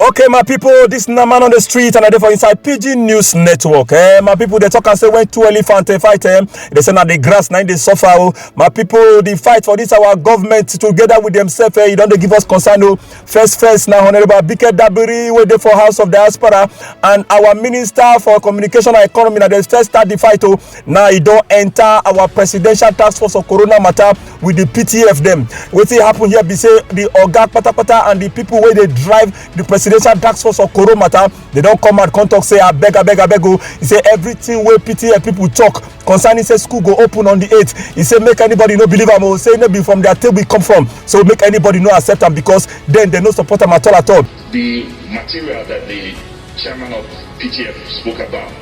okay my people, this na man on the street and i dey for inside pg news network eh my people, they talk and say when two elephant dey fight eh they say na the grass na im dey suffer o oh. my people, the fight for this our government together with themselves eh e don dey give us concern o oh. first first na honourable abike dabiri wey dey for house of diaspora and our minister for communication and economy na dem first start the fight o oh. now e don enter our presidential task force on corona matter with the ptf dem wetin happen here be say the oga patapata and the people wey dey drive the presidential task force on corona matter they don come out come talk say abeg abeg abeg o e say everything wey ptf people talk concerning say school go open on the 8th e say make anybody no believe am o say no be from their table e come from so make anybody no accept am because then they no support am at all at all. the material that the chairman of PTF spoke about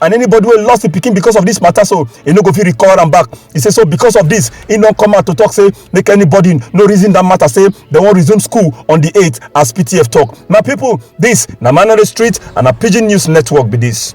and anybody wey lost im pikin because of this matter so e no go fit recover am back e say so because of this e don come out to talk say make anybody no reason that matter say dem wan resume school on the 8th as ptf talk my people this na manare street and na pidgin news network be this.